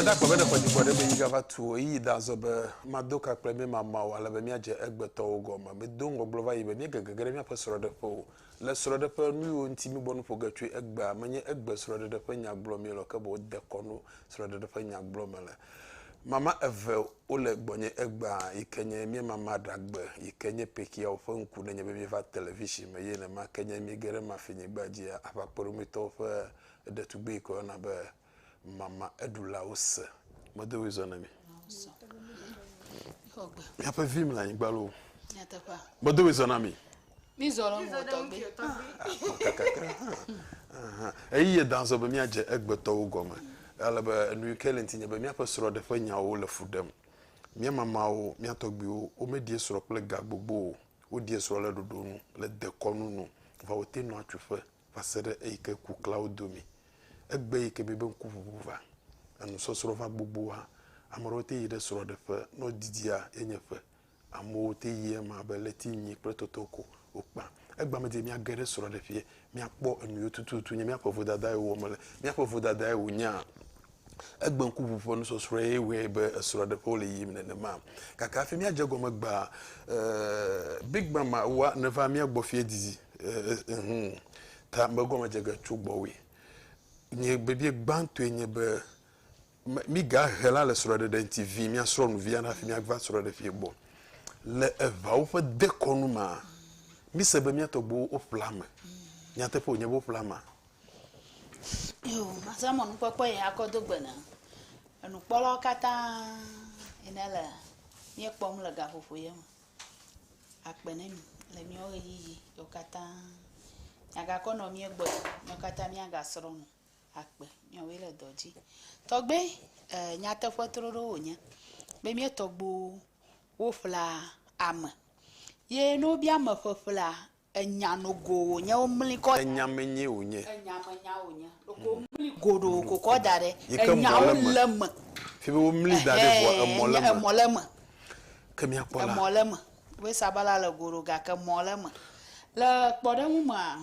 Bena kpɔ bene kɔdzikɔ ɖe be yi gava tu o, yi da zɔ be mado ka kple mi mama o, ale be míadze egbetɔwo gɔme. Medo ŋgɔgblɔ va yi be míegege ge ɖe míaƒe srɔ̃ɖeƒe o. Le srɔ̃ɖeƒe, nu yiwo ŋuti míebɔ nu ƒo ge tsoe egbea, menye egbe srɔ̃ɖeɖe ƒe nya gblɔm míele o, ke boŋ dekɔnu srɔ̃ɖeɖe ƒe nya gblɔm mele. Mama eve wole gbɔnye egbea yi ke nye míemama ɖagbe yi ke nye pekiawo ƒe ŋku nenye be míeva television me eye nema ke nye míege ɖe mafinyigba dzia, aʋakpɔɖomitɔwo ƒe ɖetugbui yi ke woyɔna be mama eɖulawo se. Medo ɣli zɔ ne mi. Míaƒe vi mele anyigba loo. Medo ɣli zɔ na mi. Mízɔ lɔ ŋgɔ tɔgbi. Kakakra hã. Aha. Eye da zɔ be míadze egbetɔwo gɔme. Ale be enuyi ke le ŋti nye be míaƒe srɔɖe ƒe nyawo le fu ɖem. Mía mamawo, mía tɔgbiwo, womeɖie srɔ kple ga gbogbo o. Woɖie srɔ le ɖoɖo nu, le dekɔnu nu, vɔ wote nɔa tsuƒe va se ɖe eyi ke ku kla wo domi. Egbe yi ke miebe ŋkuʋuʋu va, enusɔsrɔ va gbogboa, ame ɖewo te yi ɖe srɔɖeƒe, ne wodidia ye nye ƒe Amewo te yi ema be ɣleti nyi kple toto ko wokpã. Egbea me di míage ɖe srɔ̃ɖeƒeɛ míakpɔ enuyiwo tututu nye míaƒe vodadae wowɔ mele. Míaƒe vodadae wonyaa? Egbe ŋkuʋu ƒe nusɔsrɔ̃e ye wɔe be esrɔ̃ɖeƒe wole yiyim nenema. Gake hafi míadze egɔme egbea, eh, Big Mama wa neva mía gbɔ fiẽ didi, eh, ehumm, ta megɔme dze ge tso gbɔwòe. Nye bibiɛ gbãtɔe nye be, me miga he la le srɔe ɖeɖe ŋti vi mia srɔ nu via nafi mia va srɔe ɖe fi gbɔ le eʋawo ƒe dekɔnu ma mi se be mia tɔgbuwo wo ƒla me nya teƒe wonye be wo ƒla ma yo masa mɔ nu kpɔkpɔ yi akɔ do gbe na enu kpɔ lɔ kata yi ne le mie kpɔ mu le gaƒoƒo ye me akpe ne mi le mia wo yi yi yo kata ya ga kɔ nɔ mie gbɔ yo kata mia ga srɔ nu akpe miawoe le dɔ dzi. Tɔgbe e, nyateƒe troɖo wònye be mía tɔgbuiwo woƒlea ame ye ne wobia ame ƒeƒlea enya nogo wònye womli kɔ. Enya menye wònye. Enya menya wònye. Ɖeko womli goɖo kokɔ da ɖe. Enyawo le eme. Fi be womli da ɖe vɔ emɔ le eme. Emɔ le eme. Ke míakpɔ la. Emɔ le eme. Be sabala le goɖo gake emɔ le eme. Le kpɔɖeŋu mea.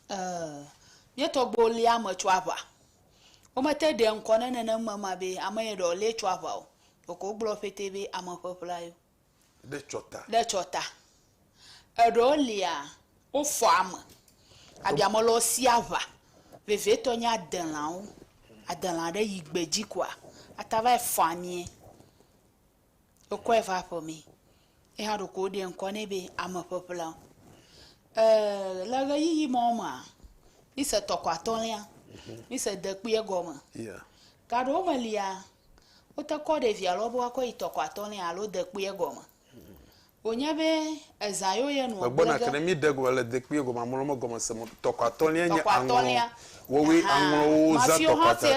eh, míetɔgbuiwo lé ame tso aʋa. Womete ɖe ŋkɔ ne nenem mema be ame ye ɖe wòlé tso aʋa o. Ɖeko wogblɔ ƒete be ame ƒeƒla yo. Ɖe tsɔta. Ɖe tsɔta. Eɖewo lia, wofɔ ame. Abi ame lɔ si aʋa. Vevietɔ nye adelãwo. Adelã ɖe yi gbe dzi koa, ata va yi fɔ amee. wokɔe va aƒe mee. Ye hã ɖeko woɖe ŋkɔ nɛ be ameƒeƒle. Eeee le ʋeyiʋi ma wo mea, mi se tɔkɔ atɔ̃lia, mi se dekpui egɔme. Gaɖewo me lia, wote kɔ ɖevia lɔ be woakɔ yi tɔkɔ atɔ̃lia alo dekpui egɔme. Wònye be ezã yo ye nua gblɔ ge. Tɔkɔatɔ̃lia ahan, mafio hã se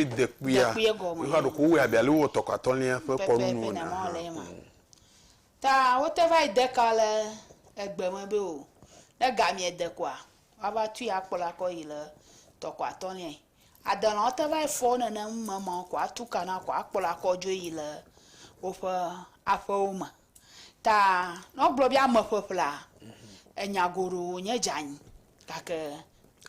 dekpuie gɔme. Pepe pene ma wòle ema. Ta wote va yi de ka le egbe me be o, ne gamie de koa, woava tui akplɔe akɔ yi le tɔkɔatɔ̃liae. Adelãwo te vae fɔ wo nene ŋu me ma wo ko atu ka na ko akplɔ akɔ dzo yi le woƒe aƒewo me. Ta ne wogblɔ be ame ƒeƒlea, enya goɖo wonye dze anyi gake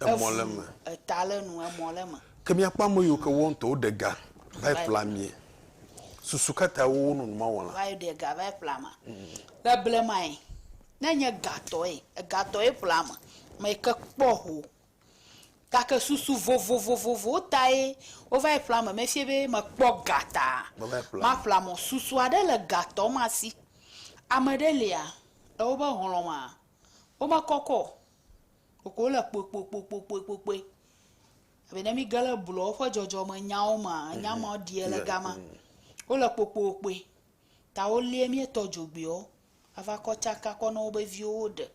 Emɔ le evu eme. eta le nu emɔ le eme. Ke míakpɔ ame yiwo ke woawo ŋutɔ woɖe ga vae Vae. ƒlea amee. Susu ka tae wowo nɔ numa wɔm la? vae ɖe ga vae ƒlea ame. Le blemae, ne enye gatɔe, egatɔe ƒlea ame, ame yi ke kpɔ ho Gake susu vovovowo tae wova yi ƒlea me. Mefia be mekpɔ ga ta maƒlea mɔ. Susu aɖe le gatɔ ma si. Ame ɖe lia, le woƒe hlɔ̃ mea, womekɔkɔ o, ɖeko wole kpuikpuikpuikpuikpui. Ebe ne mìge ɖe blɔwo ƒe dzɔdzɔmenyawo mea, nya ma ɖiɛ le gama. Wole kpuikpuikpui ta wolie míetɔ dzogbui wo. ava kɔ tsaka kɔ na woƒe viwo woɖe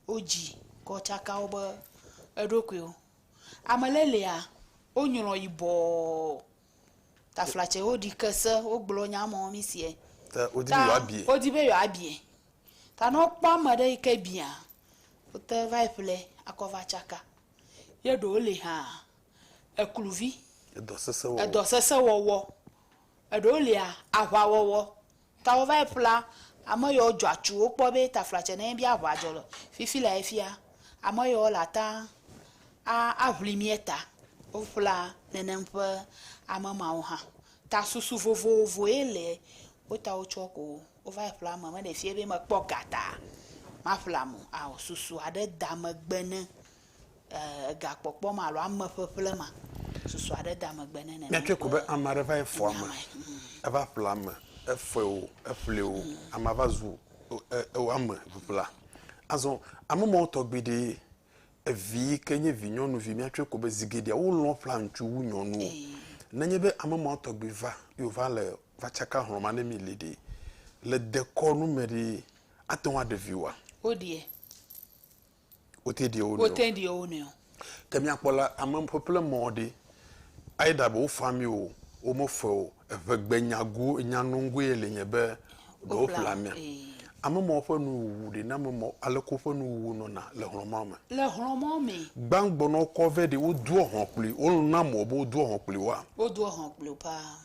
wo dzi kɔ tsaka woƒe eɖokuiwo. Ame ɖe lia wonyrɔ yibɔɔ taflatse woɖi ke se wogblɔ nya me wɔ nusiɛ. Ta wodi be yewoa biɛ. Ta wodi be yewoa biɛ. Ta ne wokpɔ ame ɖe yi ke biɛa wote va yi ƒle akɔ va tsaka. Ye ɖewo li hã ekluvi. Edɔ sese wɔwɔ. Edɔ sese wɔwɔ. Eɖewo lia aʋawɔwɔ. Tawo va yi ƒla ame yɔwo dzɔ atsu wo kpɔ be taflatsɛ ne bi aʋa dzɔ le fifi la efia ame yɔwo la ta a aʋli mie ta wo ƒla nenem ƒe ame mawo hã ta susu vovovo ye le wo ta wo tsɔ ko wo va yi ƒla ame me ɖe fie be me kpɔ ga ta ma ƒla mo ao susu aɖe da megbe ne egakpɔkpɔ ma alo ame ƒeƒle ma susu aɖe da megbe ne nene. Míatsɔe ko be ame aɖe va yi fɔ ame, eva ƒle ame, efɔe o, eƒlee o, amea va zu eo ame ŋiŋla. Azɔ ame mawo tɔ gbeɖe ye. Evi yi ke nye vi nyɔnuvi míatsɔe ko be zi geɖea wolɔ̃ ƒlea ŋutsu wu nyɔnuwo. Nenye be ame mawo tɔ gbe va ye wova le va tsaka hlɔ̃ ma ne mi li ɖe, le dekɔnu me ɖe ate ŋu aɖe vi oa? Woɖie. wote ɖi wo nɔewo. Wote ɖi wo nɔewo. Ke míakpɔ la, ame ƒeƒle mɔ ɖi. Either be wofa mi o, womefae o, eŋegbenyago, enyanungoe ye li nye be ɖe woƒle ame. Ame mawo ƒe nu wuwu ɖe name mɔ aleke woƒe nu wuwu nɔna le hlɔ̃ mawo me. Le hlɔ̃ mawo me. Gbãgbɔ ne wokɔ vɛ ɖe, wodoa hlɔ̃ kpli wo. Wona mɔ be wodoa hlɔ̃ kpli woa? Wodoa hlɔ̃ kpli wo paa.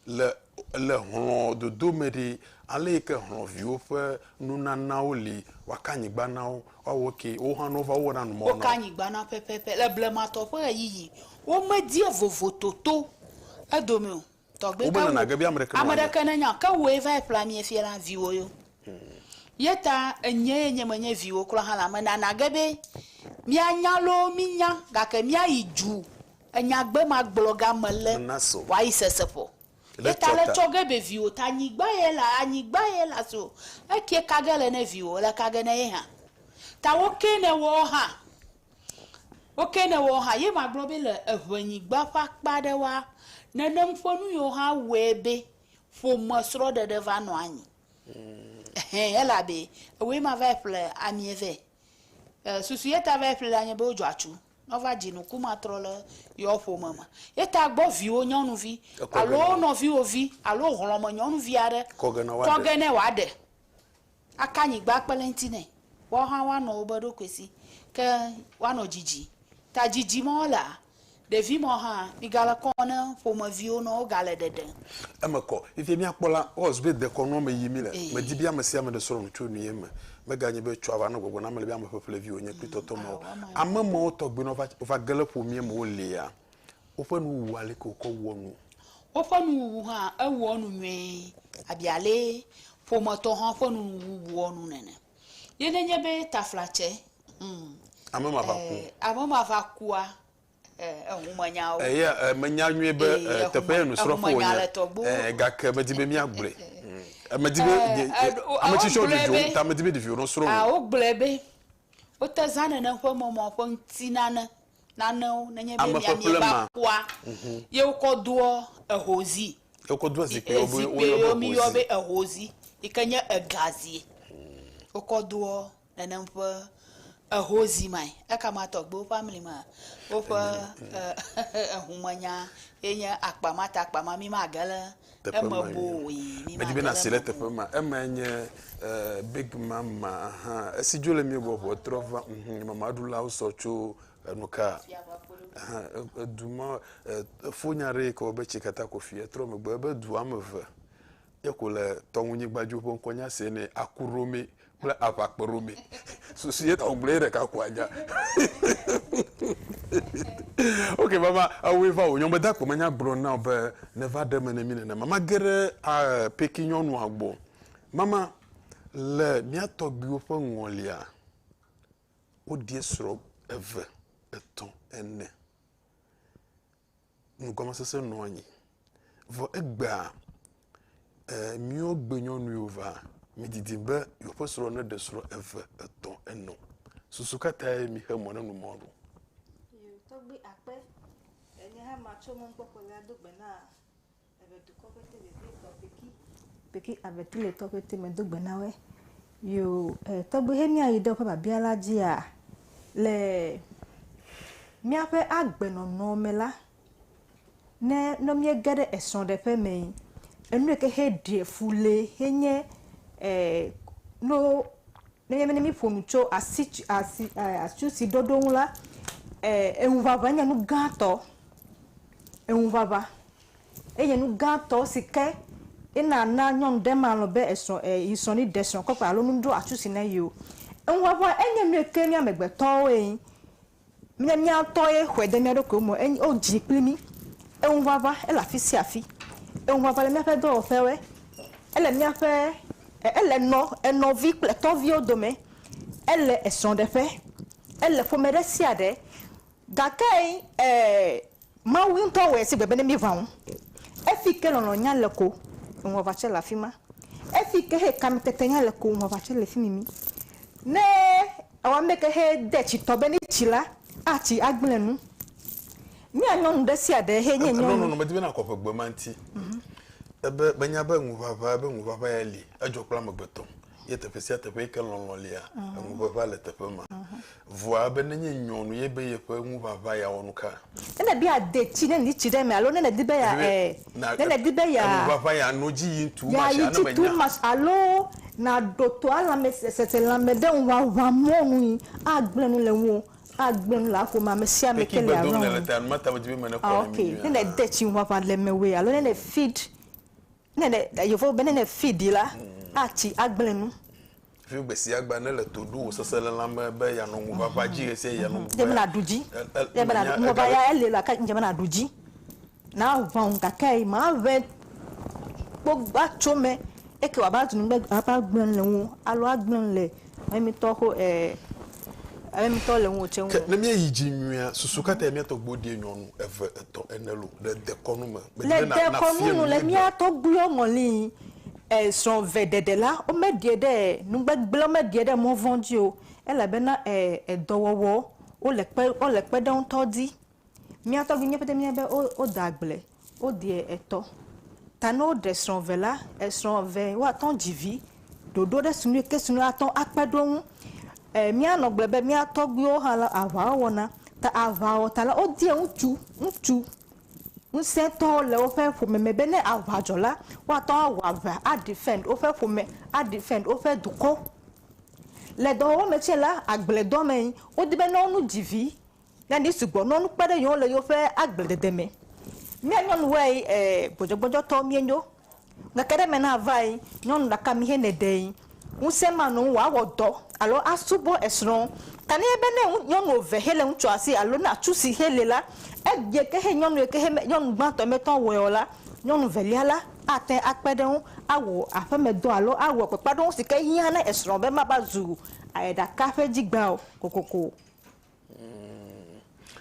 Le le hlɔ̃ dodo me ɖe, ale yi ke hlɔ̃viwo ƒe nunanawo li, woaka nyigba na wo, woawɔ eke, wo hã ne wova wowɔna nu mawo na Woka wo. nyigba na wo pɛpɛpɛ. Le blematɔ ƒe ɣeyiɣi, womedie vovototo edome o. Tɔgbe Wobe ke nana wò, ge be ame ɖeke ame mewɔnɛ. ɖeke nenye o. Ke wòe vae ƒle amee fiɛ na viwò yo. Ye ta enyee nye menye viwò kura hã la, menana ge be míanya loo mínya gake míayi dzu Enya gbe ma gblɔ ga me le wa yi sese ƒo. Ye ta le tsɔ ge be viwo ta nyi gba ye la a nyi gba ye la so e kie ka ge le ne viwo le ka ge ne ye hã. Ta wo ke ne wɔ hã wo ke ne wɔ hã ye ma gblɔ be le eŋɛ nyi gba ƒe akpa ɖe wa nenem ƒe nu yo hã wɛ be ƒome srɔ ɖe ɖe va nɔ anyi. Ehɛ ye la be ewe ma va yi ƒle amie vɛ. E susu ye ta va yi ƒle la nye be wo dzɔ atsu. Nɔva dzinuku ma trɔ le yeɔ ƒome me. Ye ta gbɔ viwo nyɔnuvi alo nɔviwo vi alo hlɔme nyɔnuvi aɖe kɔ ge nɛ wòaɖe, aka nyigba kple ŋti nɛ. Woawo hã woanɔ wobe ɖokui si ke woanɔ dzidzi. Ta dzidzi mɔ lea, ɖevi mɔ hã migale kɔ ne ƒomeviwo nɔ wogale ɖeɖe. Eme kɔ. Fifia mìakpɔ la, Ɔz be dekɔnuɔ me yí mìle. Medi be amesiame ɖe srɔ̃nu tso nuye me. Meganye be tsɔ ava nɔ gbɔgblɔ na ame le be ame ƒeƒle viwo nye kple tɔtɔ mawo. Ame mawo tɔgbe nɔ va va ge le ƒomie me wo lia, woƒe nuwuwu aleke wokɔ wɔ nu. Woƒe nuwuwu hã ewɔ nu nyuie abi ale ƒometɔ hã ƒe nuwuwu wɔ nu nene. Ye ne nye be taflatse, hum. Ame ma va ku. Ame ma va kua. Eya menya nyuie be teƒe ye nusrɔ̃ƒe wònye, gake medi be míagblɔe. Medi be ame tsitsiwo dzodzom ta medi be ɖeviwo nasrɔ̃ nu. Wogblɔe be wote zãna nane ƒe mɔmɔ ƒe ŋutinane nanewo nenye be miamie va kpɔa, ye wokɔ doa ehozi. Ye wokɔ doa zikpuiwo be woyɔ be hozi. Zikpuiwo miyɔ be ehozi yi ke nye egazi. Wokɔ doa. Nenem ƒe eho zi mae. Eka ma tɔgbuiwo ƒe amli me woƒe ehumenya ye nye akpa ma ta akpa ma mi ma ge le eme boe. Medi be nasi le teƒe ma. Ema ye nye big mama hã. Esi dzo le mi gbɔ ʋua trɔ va ŋu mama ɖulawo sɔ tso enu ka edu ma efo nya ɖe yi ke wɔ be tsi kata ko fia trɔ megbe ebe du ame eve Ye ko le tɔŋunyigba dzi woƒe ŋkɔ nya se nɛ Akurome kple Aʋakperome. Susu ye ta wògblɔ ye ɖeka ko anya. ok mama ewoe va wò nyɔm be de akpɔ menya gblɔ na wò be neva ɖe eme ne mí nenema. Mage ɖe eh, peki nyɔnua gbɔ. Mama le mía tɔgbuiwo ƒe ŋɔlia woɖie srɔ̃ eve, etɔ̃, ene. nugɔmesese nɔ anyi. Vɔ egbea, eh, míwo gbenyɔnuiwo va, mìdidi be yewoƒe srɔ̃ neɖe srɔ̃ eve, etɔ̃, enɔ. Susu ka tae mìxe mɔ na nu mawo ɖo? Yo, tɔgbui akpe enye hã matso mɔkpɔkpɔ la do gbe na. Ave dukɔ ƒe te vevie tɔ peki. Peki ave tu le tɔ ƒe te me do gbe na we. Yo eh, tɔgbe he mia yi ɖe woƒe babia la dzia le miaƒe agbenɔnɔ me la ne ne mie ge ɖe esrɔ̃ ɖe ƒe me yi. Enu yike he ɖe fu le he nye eh, no Ne míabe ne míeƒo nu tso asi tsi asi e asi si ɖoɖo ŋu la, e eŋuʋaʋã nye nu gãtɔ. Eŋuʋaʋã enye nu gãtɔ si ke ena na nyɔnu ɖe malɔ̃ be esrɔ̃ e yi srɔ̃ ne ɖe srɔ̃ kɔƒe alo nu ɖo atsu si ne ye o. Eŋuʋaʋã enye nu yi ke mí amegbetɔwoe Míawo mía ŋutɔe xɔe de mía ɖokuiwo me. Enye, wodzii kpli mí. Eŋuʋaʋã, ele afi sia afi. Eŋuʋaʋã le míaƒe dɔwɔƒewoe. Ele míaƒe, e, ele nɔ, enɔvi kple etɔviwo dome. Ele esrɔ̃ɖeƒe. Ele ƒome ɖe sia ɖe. Gake, e, Mawu ŋutɔ wɔe si gbe be ne míeʋã ŋu. Efi ke lɔlɔ̃ nya le ko, ŋuʋaʋã tsɛ le afi ma. Efi ke he kamete nya le ko, ŋuʋaʋã tsɛ le fi mimi. Ne ewɔ ame ke he de tsitɔ be ne tsi la, atsi agblẽ nu. Mía nyɔnu ɖe sia ɖe he nye nyɔnu. Nɔnɔme di be nakɔ ƒe gbema ŋuti. Ebe, menya be ŋuʋaʋã, ebe ŋuʋaʋã ya li. Edzɔ kple amegbetɔ. ye teƒe sia teƒe yi ke lɔlɔ̃ lia, mhm. eŋuʋeʋã le teƒe ma. Mhm. Vɔa be nenye nyɔnu ye be yeƒe ŋuʋaʋã ya wɔ nu ka? Ne nèdi ade tsi, ne nèdi tsi ɖe eme alo ne nèdi be ya eh, ne nèdi be ya ŋuʋaʋã ya no dzi yim tu ma tsi ane tu ma alo naɖo to alame sese lãme ɖe ŋuʋaʋã mɔ nu yi agblẽ nu le ŋuwò agblẽ nu le aƒome ame sia ame ke le arɔ ŋu. Ah, ok, ne nède tsi ŋuʋaʋã le mewòe alo ne nèfid Ne ne yevowo be ne ne fi ɖi la atsi agblẽ nu. Fi gbe sia gbe ne le to ɖo wò sese le lãme be yanɔ ŋu ʋaʋã dzi ɣe sia ɣi yanɔ ŋu. Dze be na ɖu dzi. Dze be na ɖu ŋu ʋaʋã ya ele la ke dze be na ɖu dzi. Na ʋã ŋu gake yi ma ʋɛ kpɔ va tso me eke wa va zu nu be agblẽ le ŋu alo agblẽ le Emitɔ xo e emitɔ le ŋuwò tse ŋu. Ke ne míeyi dzi nyuia, susu ka tae mía tɔgbuiwo ɖie nyɔnu eve, etɔ̃, ene lo le dekɔnu me? Le Medina na dekɔnu nafia nu nu mía míeɖe. mía tɔgbuiwo ŋɔli e srɔ̃ ve ɖeɖe la, womeɖie ɖe e nugbegble, womeɖie ɖe mɔvɔ̃ dzi o elabena e edɔwɔwɔ wole kpe wole kpeɖeŋutɔ di. Mía tɔgbi mía pete mía be wo woda agble wo deɛ etɔ ta ne wo ɖe srɔ̃ ve la esrɔ̃ ve woa tɔn dzi vi ɖoɖo ɖe si nu yike si nu atɔn akpe ɖo ŋu e mía nɔ gble be mía tɔgbiwo hã la aʋa wo wɔna ta aʋa wɔ ta la wo deɛ ŋutsu ŋutsu ŋusẽ tɔwo le woƒe ƒome me be ne aʋa dzɔ la woa tɔn awɔ aʋa a defend woƒe ƒome a defend woƒe dukɔ. Le dɔwɔwɔ me tsɛ la agble dɔ me wo di be ne wo nu dzi vi Nyani sugbɔ nɔ nu kpe ɖe yewo ŋu le yewoƒe agbledede me. Mía nyɔnuwoe e gbɔdzɔgbɔdzɔtɔwo míenyo. Ŋkeke ɖe me na vae, nyɔnu ɖeka mi hɛn ne ɖee. Ŋusẽ manɔ ŋu wòawɔ dɔ alo asubɔ esrɔ̃. Ta ne ebe ne nyɔnu eve hɛn le ŋutsua si alo ne atsu si hɛn li la, egbea ke hɛn nyɔnu yike hɛn nyɔnu gbãtɔ mete ŋu awɔe o la, nyɔnu velia la ate ŋu akpe ɖe eŋu awɔ aƒemedɔ alo awɔ kpekpeaɖeŋu si ke hiã na esrɔ̃ be mava zu ɖeka ƒe dzigbã o kokoko o. Umm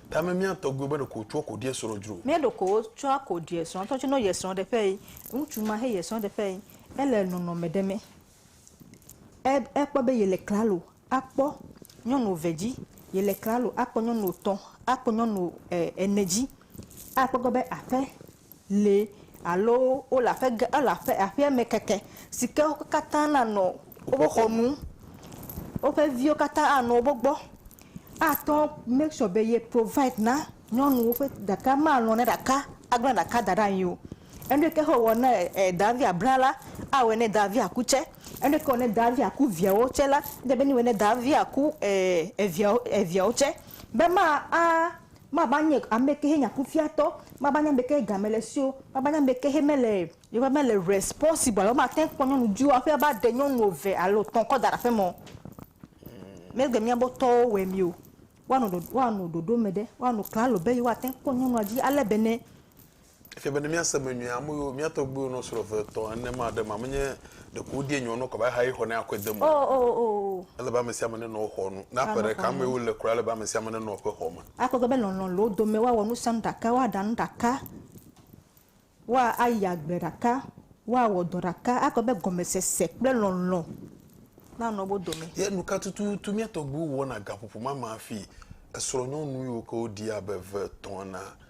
tame mía tɔgbuiwo be ɖeko wotsɔa koɖie srɔ̃ dzro. Mía ɖeko wotsɔa koɖie srɔ̃ tɔ tsinɔ yɛ srɔ̃ ɖeƒe yi ŋutsu ma he yɛ srɔ̃ ɖeƒe yi ele nɔnɔ me ɖe me e e kpɔ be yele klalo a kpɔ nyɔnu ve dzi yele klalo a kpɔ nyɔnu tɔ a kpɔ nyɔnu e ene dzi a kpɔ gbɔ be aƒe li alo wole aƒe gã, wole aƒe, aƒea me keke si ke wo katã nanɔ woƒe xɔ nu. Woƒe viwo katã anɔ woƒe gbɔ. Ate ŋu make sure be ye provide na nyɔnuwo ƒe ɖeka malɔ̃ ne ɖeka agblẽ ɖeka da ɖe anyi o. Enu ɖe ke he wòwɔ ne e dɔwɔavia blẽ la, awɔe ne dɔwɔavia ku tsɛ. Enu ɖe ke wɔ ne dɔwɔavia ku viawo tsɛ la, ele be newɔe ne dɔwɔavia ku e eviawo, eviawo tsɛ be ma a. Mava nye ame kehe nye akufiatɔ, mava nye ame kehe game le si o, mava nye ame kehe mele yeƒe mele responsible alo mate kpɔ nyɔnu viwo aƒe ava ɖe nyɔnu eve alo etɔ̃ kɔ da ɖe aƒeme o. Megbe miabe tɔwo wɔe mi o. Woanɔ ɖoɖo me ɖe, woanɔ klalo be yewoate kpɔ nyɔnua dzi ale bene Efia be ne míase eme nyuie, ame yiwo mía tɔgbuiwo nɔ srɔ̃ eve, etɔ̃, ene ma ɖe ema menye ɖeko wodie nyɔnu kɔ va ehayi xɔnɛ akɔe de eme o. Oo, oo, oo, oo. Ele be ame sia ame nenɔ wo xɔ nu. Ne aƒe Amen, ɖeka amen. mee wole kura, ele be ame sia ame nenɔ eƒe xɔ me. Akpɔ egbɔ be lɔlɔ̃ le wo dome, woawɔ nu sia nu ɖeka, woaɖa nu ɖeka, woayi agble ɖeka, woawɔ dɔ ɖeka. Akpɔ be gɔmesese kple lɔlɔ̃ nanɔ wo dome. Ye nu ka tututu mía tɔgbuiwo wɔna gaƒoƒo ma me hafi esrɔ̃nyɔnu yiwo ke woɖi abe eve, etɔ̃, enea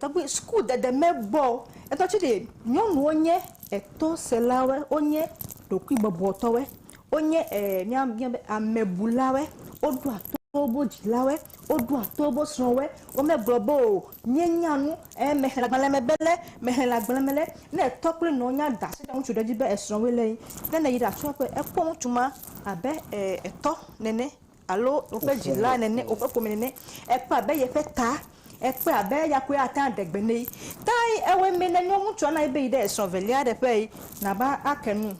Tɔgbi suku dede me bɔ etɔ tsi ɖe nyɔnuwo nye etɔ se la wɔ wonye ɖokuiwò bɔbɔ tɔ wɔ wonye e mía mía be ame bu la wɔ woɖo ato woƒe dzi la wɔ woɖo ato woƒe srɔ wɔ wo me gblɔ be o nye nya nu e me xe agbalẽ me be le me xe le agbalẽ me le ne etɔ kple nɔ nya da asi ɖe ŋutsu ɖe dzi be esrɔ woe le yi ne yi ɖe atsɔ ƒe ekpɔ ŋutsu ma abe e etɔ nene. Alo woƒe dzila nene, woƒe ƒome nene. Ekpɔ abe yeƒe ta. Ekpɔe abe eya koe ate ŋu aɖe gbe nɛ. Tae ewɔe mee ne nyɔnutsua na ye be yi ɖe esrɔ̃ velia ɖe ƒe yi nava ake nu.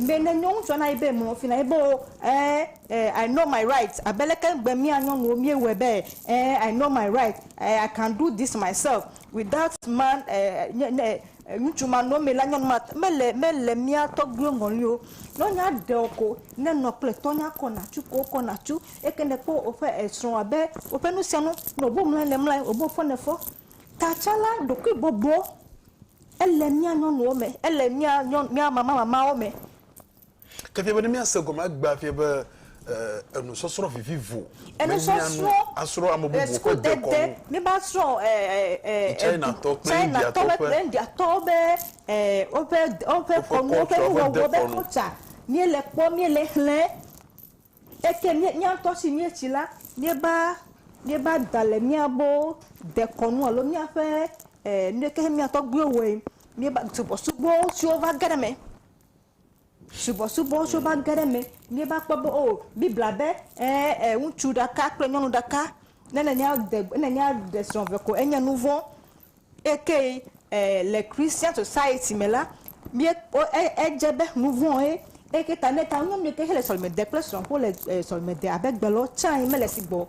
Be ne nyɔnutsua na ye be mlɔ fi na ye be o ɛ ɛ I know my right abe leke ŋgbe mía nyɔnuwo míewɔe be ɛ ɛ I know my right ɛ I can do this myself without man ɛ ɛ nye ne Ŋutsu ma nɔ eme la nyɔnu ma mele mele mía tɔgbuiwo ŋɔli o. Ne wonya ɖe wò ko ne nɔ kple tɔ nya kɔ nàtsu ko wokɔ nàtsu. Eke ne kpɔ woƒe esrɔ̃ abe woƒe nu sia nu ne wobe mlɔe ne mlɔe wobe fɔ ne fɔ. Tatsã la ɖokuibɔbɔ ele mía nyɔnuwo me ele mía nyɔnu mía mamamamawo me. Ke fie be ne míase gɔme egbea fie be e enusɔsrɔ̃ vivivo. Enusɔsrɔ̃ asrɔ̃ ame bubuwo ƒe dekɔnu. Míva srɔ̃ e e e e Chinatɔ kple Indiatɔ ƒe. Indiatɔwo be e woƒe woƒe kɔnu woƒe nuwɔwɔ be kɔltsa. Míele kpɔ míele xlẽ eke mí mía ŋutɔ si míetsi la míeva míeva da le míabo dekɔnu alo míaƒe e nuɖe ke mía tɔgbuiwo wɔe míeva subɔsubɔ siwo va ge ɖe eme. Subɔsubɔ tsɛ va ge ɖe eme. Míeva kpɔ be oo Biblia be ẽ e ŋutsu ɖeka kple nyɔnu ɖeka ne nènya de ne nènya ɖe srɔ̃ eve ko enye nu vɔ̃. Ekee e le Christian Society me la míe o e edze be nu vɔ̃e. Eke ta ne ta nyɔnu ɖeka tsɛ le sɔleme dem kple srɔ̃ ko le e sɔleme dem abe gbe lɔ tsãe mele si gbɔ o.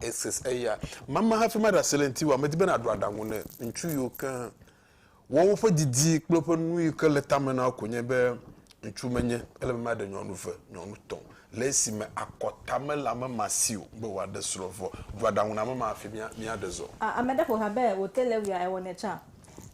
Ese eya. Mama hafi maɖe asi le ŋutiwò. Medi be nàɖo aɖaŋu ne ŋutsu yiwo ke wɔ woƒe didi kple woƒe nu yi ke le tame na wo ko nye be ŋutsu menye. Ele be maɖe nyɔnu ve, nyɔnu tɔ̃ le esime akɔta mele ame ma si o be wòaɖe srɔ̃ vɔ. Ɖo aɖaŋu na ame ma hafi míaɖe zɔ. A Ame ɖe ƒo ha be wòte le wia ewɔnɛ tsã.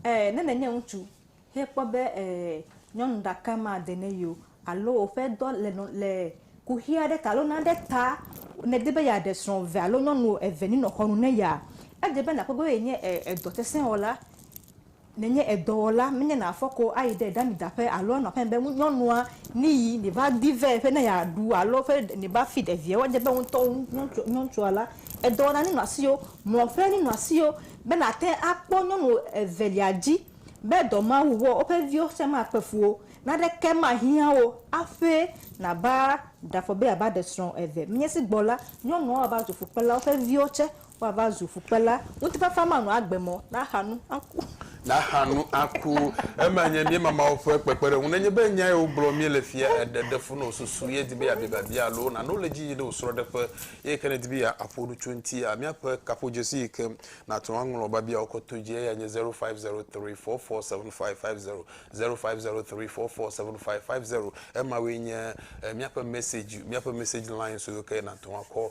Ɛɛ, ne nènye ŋutsu, Ye kpɔ be e nyɔnu ɖaka ma de ne yio alo woƒe dɔ le nɔ le kuxi aɖe ta alo nane ta ne de be ya ɖe srɔ̃ eve alo nyɔnu eve ni nɔ xɔnu ne ya ede be na kpɔ be ye nye e edɔ sese wɔla ne nye edɔwɔla me nye na fɔ ko ayi ɖe ɖami da ƒe alo anɔ ƒe be ŋu nyɔnua ni yi ni va di vɛ ƒe ne ya ɖu alo ƒe ni va fi ɖe viɛ wɔdze be ŋutɔ ŋu nyɔntsɔ nyɔntsɔa la edɔwɔna ni nɔ asio mlɔ ƒe ni nɔ asio be na te akpɔ nyɔnu evelia dzi. Be dɔ Mawu wɔ woƒe viwo sia makpe fu wo, naneke mahiã wo aƒe nava ɖafɔ be yeava ɖe srɔ̃ eve. Menye esi gbɔ la, nyɔnuawo ava zu fukpela, woƒe viwo tsɛ woava zu fukpela. Ŋutifafa manɔ agbe mɔ naxa nu aku. Naxa nu aku. Eme nye míema Mawu ƒe kpekpeɖeŋu. Nenye be nya ye wogblɔ míele fia eɖe ɖe fu na wò susu ye di be yeabia biabia alo nane wò le edzi yim ɖe wò srɔ̃ɖeƒe, eye ke nèdi be yeaƒo nu tso eŋuti. Míaƒe kaƒodzesi yi ke Nàte ŋu aŋlɔ biabiawo koto dzi, eyae nye zero five zero three four four seven five five zero, zero five zero three four four seven five five zero. Emawoe nye míaƒe message, míaƒe message lines yiwo ke nàte ŋu akɔ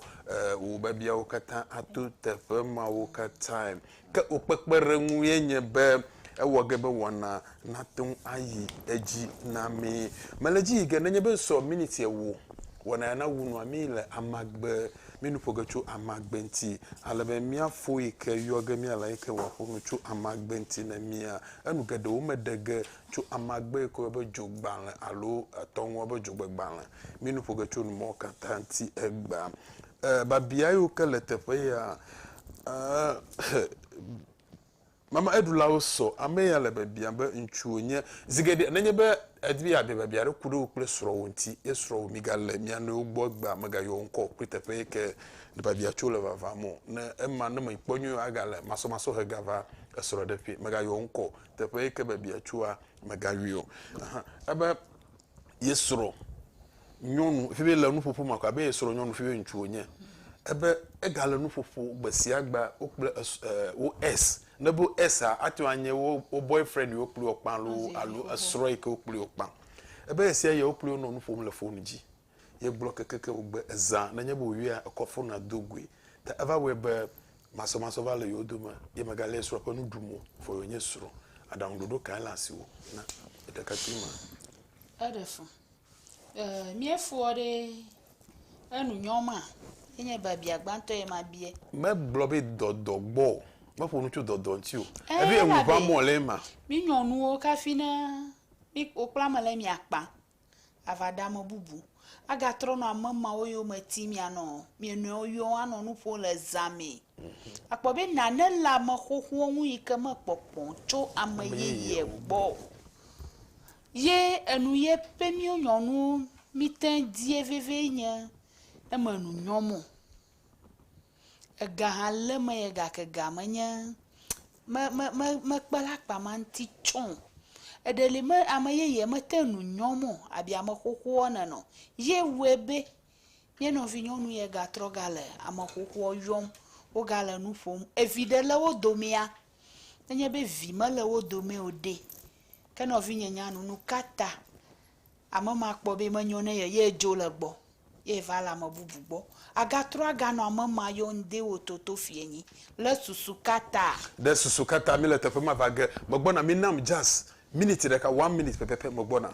wò biabiawo katã ato teƒe mawo katãe. Ke wò kpekpeɖeŋu ye nye be, ewɔ ge be wɔna nate ŋu ayi edzi na mí. Mele edzi yi ge nenye be sɔ miniti ewo wɔna ya nawu nua mí le amagbe, mí nu ƒo ge tso amagbe ŋuti, ale be míafɔ yi ke yɔ ge míale yi ke wòaƒo nu tso amagbe ŋuti na mía. Enu geɖewo meɖe ge tso amagbe yi ke woyɔ be dzogbalẽ alo etɔ ŋua be dzogbegbalẽ. Mí nu ƒo ge tso nu mawo katã ŋuti egbea. E, biabia yiwo ke le teƒe ya, e, xe, Mama eɖulawo sɔ ame ya le biabiam be ŋutsu wònye. Zi geɖe nenye be èdi be yeabia biabia aɖe ku ɖe wò kple srɔ̃wò ŋuti, ye srɔ̃wò migalé mia nɔewo gbɔ egbea, megayɔ wò ŋkɔ o kple teƒe yi ke nèva bia tso le vavam o. Ne ema ne mèkpɔ nyuie o agale masɔmasɔ hega va esrɔ̃ɖeƒee. Megayɔ wò ŋkɔ o. Teƒe yi ke bebia tsoa, megayɔe o. Ebe ye srɔ̃ nyɔnu ƒe le nuƒoƒo ma ko abe ye srɔ̃ nyɔnu ƒe ŋutsu wonye ebe ega le nuƒoƒo gbe sia gbe wo kple eh, wo s ne bo s a ate ŋu anye wo wo boyfriend yi wokpli wokpa alo alo esrɔ̃ yi ke wokpli wokpa ebe esia yɛ wokpli wonɔ nu ƒom le foni dzi yegblɔ kekeke wogbe ezã nenye be wòyɔa ekɔ fonua do goe ta eva wɔe be Masɔmasɔ va le yewo dome, ye mègalé ye srɔ̃ ƒe nu ɖum o, vɔ yewònye srɔ̃. Aɖaŋuɖoɖo kae le asiwò na ɖekakpui ma? Eɖe fu. Ee, míefɔ ɖe enu nyɔ ma. Enye biabia gbãtɔ ye mabia. Megblɔ be dɔdɔ gbɔ o. Meƒo nu tso dɔdɔ ŋuti o. Eɖo eŋu ʋã mɔ le ema. Mínyɔ nuwo kafi ne wokpla ame le mía kpa. ava ɖe ame bubu. Agatrɔ nɔ ame mawo yome tim mianɔ mia nɔewo yɔm anɔ nu ƒom le zã mee. Akpɔ be nane le ame xoxoa ŋu yi ke mekpɔ kpɔ tso ame yeye gbɔ o. Ye enu ye be míwo nyɔnuwo mí te die vevie nye ne menu nyɔm o. Ega hã le eme ye gake ega menye me me me mekpena akpa ma ŋuti tsã o. Eɖe li me ame yeye mete ŋu nu nyɔm o abe ame xoxoa nɔnɔ ye wɔe be ye nɔvinyɔnu ye gatrɔ gale ame xoxoa yɔm wogale nu ƒom. Evi ɖe le wo domea nenye be vi mele wo dome o ɖe ke nɔvinye nya nu nu ka ta Ame ma kpɔ be menyo ne ye, ye dzo le gbɔ, ye va le ame bubu gbɔ. Agatrɔ aganɔ ame ma yɔ ŋde wo toto fiɛ nyi le susu kata. Ɖe susu kata mi le teƒe ma va ge. Megbɔna, mi nam jaz minit ɖeka, one minit pɛpɛpɛ, megbɔna.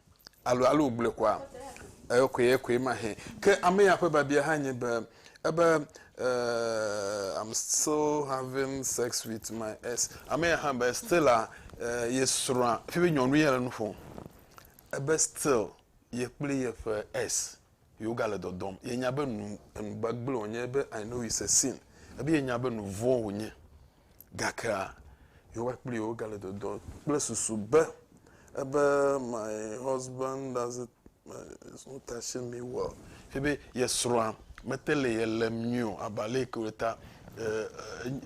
Alo, alo wògblɔe kɔa? Eyokoe, eyokoe mahee. Ke ame ya ƒe biabia hã nye be, ebe, eh, I'm still having sex with my ex. Ame ya hã be, still a, eh, ye srɔ̃a, fie be nyɔnu ye le nu ƒom. Ebe still ye kple yeƒe ex. Ye wogale dɔdɔm. Yenya be nu, enu gbagble wònye be I know it's a sin. Ebe yenya be nu vɔ̃ wònye. Gakea, Yehowa kpli yewo gale dɔdɔm kple susu be, ebe my husband doesn't, is not touching me well. Ebe ye srɔ̃a mete le ye lém nyuie o abe ale yi ke wòle ta. E,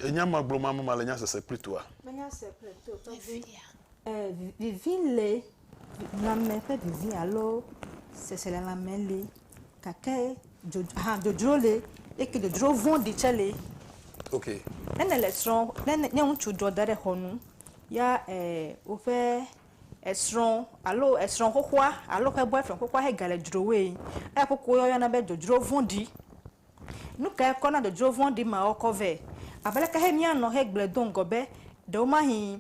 enya ma gblɔm ame ma le nya sese kpli toa? Menya se kple to tɔgbi. Ɛɛ, vivi le Nɔnɔme ƒe vivi alo seselelãme li gake dzodzro hã dzodzro li eye dzodzro vɔ̃ɖi tsɛ li. Ok. Ne nèle srɔ̃ ne ne nye ŋutsu dzɔ da ɖe xɔ nu ya e woƒe esrɔ̃ alo esrɔ̃ xoxoa alo eƒe bɔyfrɛnd xoxoa hegale dzrowee eya kuku woyɔna be dzodzro vɔ̃ɖi. Nu kae kɔ na dzodzro vɔ̃ɖi mawo kɔ vɛ? Abe leke xe míanɔ hegblɔe do ŋgɔ be ɖewomahĩ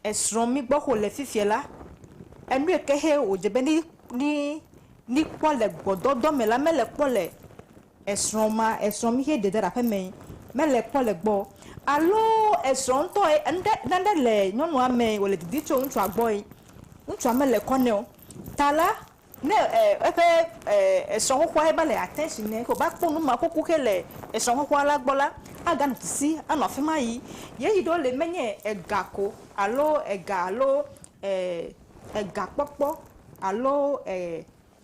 esrɔ̃ mí gbɔ o le fifia la, enue ke xe wòdze be míkpɔ le gbɔdɔdɔ me la, mele kpɔ le esrɔ̃ ma, esrɔ̃ mí xe ɖe ɖe aƒe mee, mele kpɔ le egbɔ o. Alo esrɔ̃ ŋutɔ ye, nane le nyɔnua mee wòle didim tso ŋutsua gbɔe, ŋutsua mele kɔ nɛ o. Ta la, Ne eƒe esrɔ̃xɔxɔa he va le attention nɛ ke wòva kpɔ numakuku xe le esrɔ̃xɔxɔa la gbɔ la, aganɔ sisi anɔ afi ma yi. Ye yi ɖewo le menye ega ko alo ega alo egakpɔkpɔ alo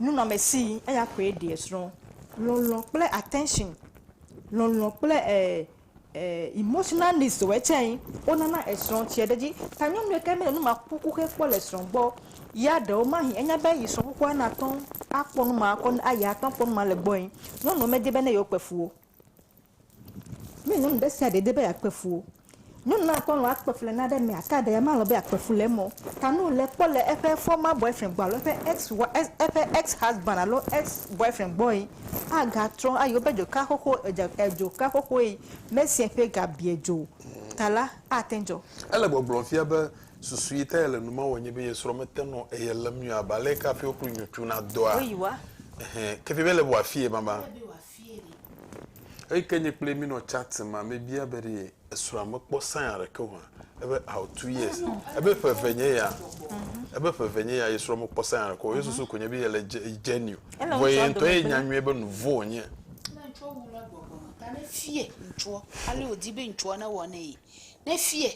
nunɔamesi eya koe ɖi esrɔ̃. Lɔlɔ̃ kple attention, lɔlɔ̃ kple e. Emotional needs ɔ etsɛ yi wo nana esrɔ tsiɛ ɖe dzi. Ta nyɔnu yi ke me le nu ma ku kuxe kpɔ le srɔ gbɔ ya ɖewo mahi enya be yi srɔ kukua na tɔn a kpɔ nu ma kɔ a yi a tɔn kpɔ nu ma le gbɔ yi. Nyɔnuɔ me di be ne yewo kpe fu wo. Mí nyɔnu ɖe sia ɖe di be ya kpe fu wo. Nyɔnu na tɔ lɔ a kpe fu le naɖe mɛ a ka ɖe ya ma lɔ be ya kpe fu le emɔ ta nu le kpɔ le eƒe fɔma bɔɛfrɛn gbɔ alo eƒe ɛx wa eƒe ɛx hɔsband alo ex bɔɛfrɛn gbɔ yi. agatrɔ ayi woƒe dzoka xoxo, edza, edzoka xoxoe, Mesia ƒe ga bia dzo ta la, ate ŋu dzɔ. Ele gbɔgblɔm fia be susu yi ta yele nu ma wɔm nye be ye srɔ̃ mete nɔ eye lém nyuie abe aleke hafi wokplɔ nyɔtsu na dɔa. Woyi wa. Ɛhɛ, ke fia be ele be wòafie baba. Ele be wòafie ɖe. Eyi ke nye kple ye mínɔ chat ma, mebia be ɖe Esrɔa mekpɔ sign aɖeke o ebe aw two years ebe ƒe eve nye ya ebe ƒe eve nye ya yesrɔ mekpɔ sign aɖeke o yesusu ko nye be yele genuine vɔ ye ŋutɔ ye nya nyuie be nuvo wonye. Ne ŋutsua wu la gbɔgbɔ me ta ne fie ŋutsua ale wòdi be ŋutsua newɔ nɛ ne fie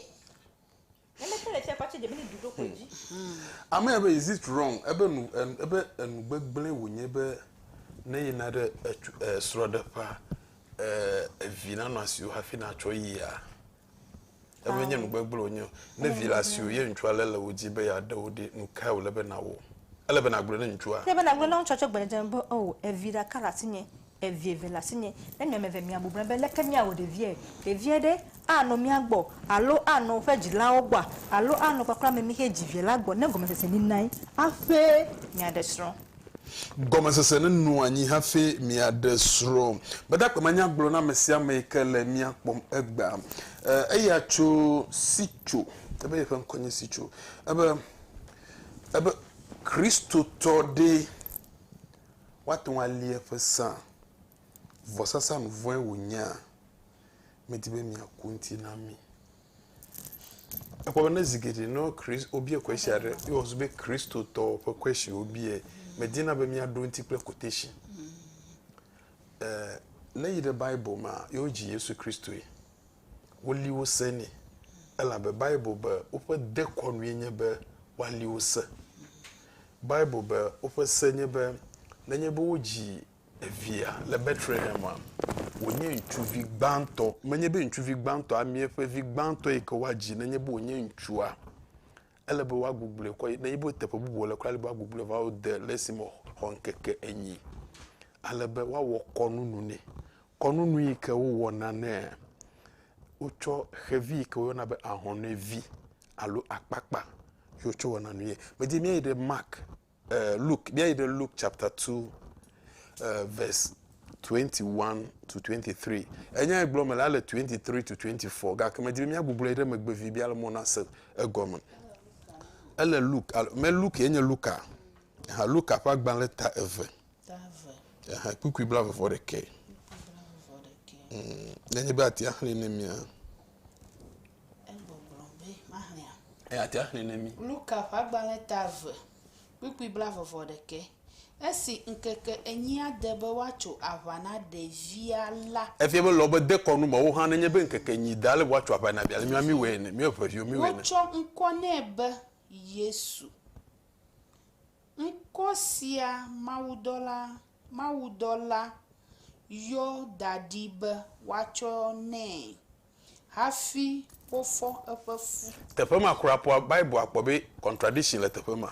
Ame ya be is it wrong ebe nu ebe enu gbegble wònye be ne yina ɖe etu esrɔ̃ɖeƒea evi nanɔ asiwò hafi natsɔ yia eme nye nu gbegble wònye o ne vi le asiwò ye ŋutsua lé le wò dzi be yeaɖe wò ɖi nu kae wòle be nàwɔ ele be nàgblɔ ne ŋutsua. Ele be nàgblɔ ne ŋutsua tsɔ gbe ɖe dzi be o evi ɖeka le asinye Evi eve le asinye. Ne mi ame eve miabu na be leke miawɔ ɖeviae? Ɖevia ɖe anɔ mia gbɔ alo anɔ woƒe dzilawo gbɔa? Alo anɔ kpakple ame mi xe dzi vi la gbɔ? Ne gɔmesese li nae hafi miaɖe srɔ̃. Gɔmesese li nɔ anyi hafi miaɖe srɔ̃. Gbadagbe ma nya gblɔ na ame sia ame yi ke le mia kpɔm egbea. Eya tso Sitso, ebe yeƒe ŋkɔ nye Sitso. Ebe, ebe, Kristotɔ ɖee. Woate ŋu ali eƒe sea? Vɔsasa nu vɔ̃e wònyea? Medi be miaku ŋuti na mí. Ekpɔ be ne zi geɖe ne Christ, wobia kwesi aɖe, ye wòzu be Kristotɔwo ƒe kwesi wobiae, medina be míaɖo eŋuti kple quotation. Ɛɛ, ne yi ɖe Bible mea, yewodzi Yesu Kristoe. woli wo se nɛ. Elabe Bible be woƒe dekɔnue nye be woali wo se. Bible be woƒe se nye be nenye be wodzi evia le Betlehema, wònye ŋutsuvi gbãtɔ, menye be ŋutsuvi gbãtɔ amee ƒe vi gbãtɔ yi ke woadzi, nenye be wònye ŋutsua, ele be woagugluɛ kɔ yi, nenye be teƒe bubu wòle kura, ele be woagugluiɛ va wo de le esime wòxɔ ŋkeke enyi. Alebe woawɔ kɔnunu nɛ. Kɔnu nu yi ke wowɔna nɛ. Wotsɔ xevi yi ke woyɔna be ahɔnɛvi alo akpakpa ye wotsɔ wɔna nue. Medi be míayi ɖe Mark, eh, Luke, míayi ɖe Luke chapter 2, eh, verse 21 to 23. Enya yi gblɔ me la le 23 to 24, gake medi be míagbugblɔe ɖe megbe vi be ale mɔ nase egɔme. Ele Luke, alo, me Luke ye nye Luka. Ha, Luka ƒe agbalẽ ta eve. Aha kpukpui bla vɔ ɖekɛ. Mm, ne nye be atia xli ne mia. Egbɔgblɔ be maxlia. Eya atia xli ne mi. Luka ƒe agbalẽ ta eve kpukpui bla vɔ vɔ ɖekɛ. Esi ŋkeke enyia de be woatso aʋa na ɖevia la. Efia be lɔ be de kɔnu me wo hã nenye be ŋkeke enyi da ale be woatso aʋa na ɖevia. Mia mi wɔ ene, mi eve viwo mi wɔ ene. Wotsɔ ŋkɔ nɛ be Yesu. Ŋkɔ sia mawudɔla mawudɔla yɔ da ɖi be woatsɔ nɛ hafi wofɔ eƒe fu. Teƒe ma kura ƒoa Bible akpɔ be contradiction le teƒe ma.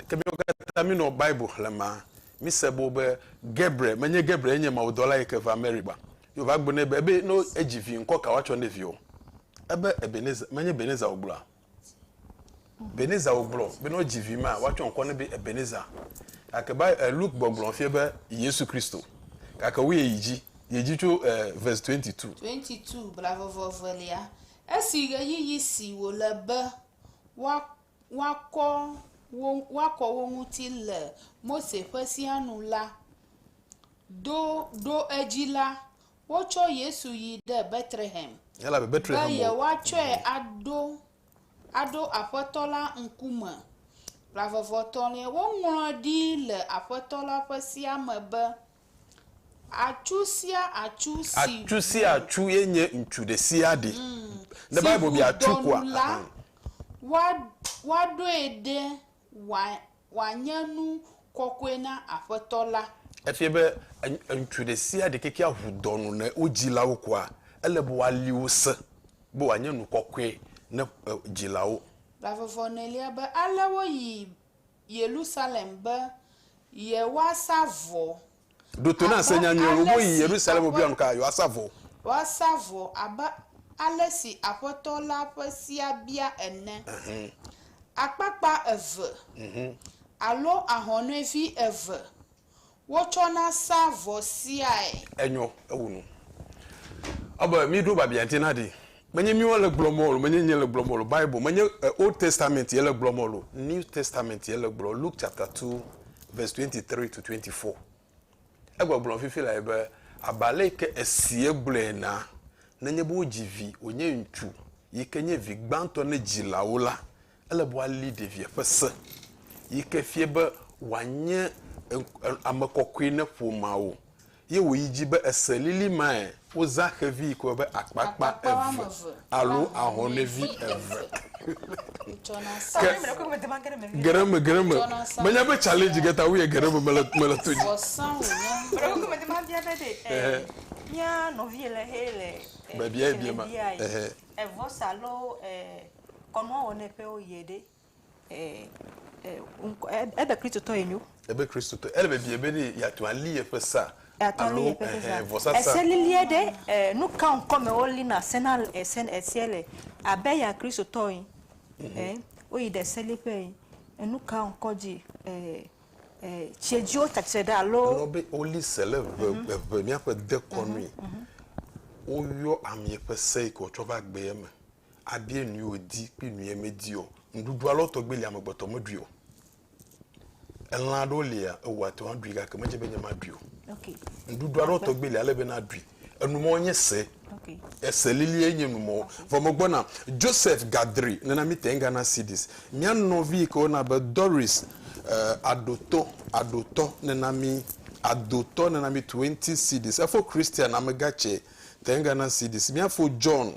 Ke miwo katã mi nɔ Bible xlem ma, mi se bo be Gabriel me nye Gabriel ye nye Mawu dɔla yike va Mary gba. Ye wova gblɔ nɛ be ebe ne edzi vi ŋkɔ ka woatsɔ ne viɔ? Ebe Ebenezer me nye Ebenezer wogblɔa? Ebenezer wògblɔ be ne wodzi vi mea, woatsɔ ŋkɔ nɛ be Ebenezer. Gake Bi, e, Luke gbɔgblɔ fiɛ be Yesu Kristo. Gake woyɛ yi dzi, yɛ dzi tso, e, verse 22. 22, Blavɔvɔ evelia, Esi ɣeyiɣi si wòle be woa, woakɔ wo, woakɔ wo ŋuti le Mose ƒe Sea nu la do ɖo edzi la, Wotsɔ Yesu yi ɖe Betlehem be yewoatsɔe aɖo aɖo Aƒetɔ la ŋkume. Ƒãa vevotɔ̃liae woŋlɔe ɖi le Aƒetɔ la ƒe sea me be, Atsu sia atsu si ŋu. Atsu sia atsu ye nye ŋutsu ɖesiaɖe. Si ŋu dɔnu la, woaɖoe ɖe Wòa, wòanye nu kɔkɔe na Aƒetɔ la. Efia be e, ŋutsu ɖe sia ɖe keke aʋu dɔ nu ne wo dzilawo kua, ele be woali wo se, be wòanye nu kɔkɔe ne e, dzilawo. La vɔvɔ̃ nɛlia be ale woyi Yerusalem be yewoasa vɔ Ɖo to na se nyanyuie wò woyi Yerusalem wò biam ka yewoasa vɔ. Woasa vɔ abe ale si Aƒetɔ la ƒe sea bia ene. Akpakpa eve alo ahɔnɛvi eve wotsɔna sa vɔ seae. Enyɔ, ewu nu. Ɔ be mi ɖo babia ŋti na ɖi. Menye míwo le gblɔm o, menye nye le gblɔm o, Bible, menye Old Testament ye le gblɔm o, New Testament ye le gblɔm, Luke chapter two verse twenty three to twenty four. Egbɔgblɔm fifi lae be, abe ale yi ke esi egblɔe enea, nenye be wodzi vi wònye ŋutsu yi ke nye vi gbãtɔ ne dzilawo la, Ele be woali ɖevia ƒe se yi ke fia be wòanye ame kɔkɔe ne ƒomea wo. Ye wòyi edzi be, Ese lili mae wozã xevi yi ke woyɔna be akpakpa eve alo ahɔnɛvi eve. Ke geɖeme, geɖeme, menya be challenge ge ta woyɔe geɖeme mele mele to dzi. Mía nɔvi le xe le. Bebia bia ma. Ehe. Evosa alo e. Kɔnua wɔ nɛ ƒe wo yɛ ɖe e ebe Kristotɔ ye nyo. Ebe Kristotɔ ele be bie be ɖe yatu ali yeƒe sa alo ehe vɔsa sa. Ese lilie ɖe e nuka ŋkɔ me wo li na se na ese esie le abe ya Kristotɔ yi e wo yi ɖe se li ƒe yi enuka ŋkɔ dzi e e tsie dzi wo tatse ɖe alo. Nɔ be wo li se le ʋe ʋe mia ƒe dekɔnui wo yɔ amie ƒe se yi ke wo tsɔ va gbe ye me. abia nui wòdi kple nui medi o. Nuɖuɖu alɔ tɔgbi lia amegbetɔ meɖui o. Elã aɖewo lia ewò ate ŋu aɖui gake medze be nye maɖui o. Nuɖuɖu alɔ tɔgbi lia ele be naɖui. Enumɔwo nye se. Ese lilie nye numɔwo. Vɔ megbɔna. Joseph Gadri, nena mi te Ghana cedis. Mía nɔvi yi ke woyɔna be Doris eh, Adoto, Adotɔ, nena mi Adotɔ nena mi 20 cedis. Efo Christian, amegã tsɛ, te Ghana cedis. Míafo John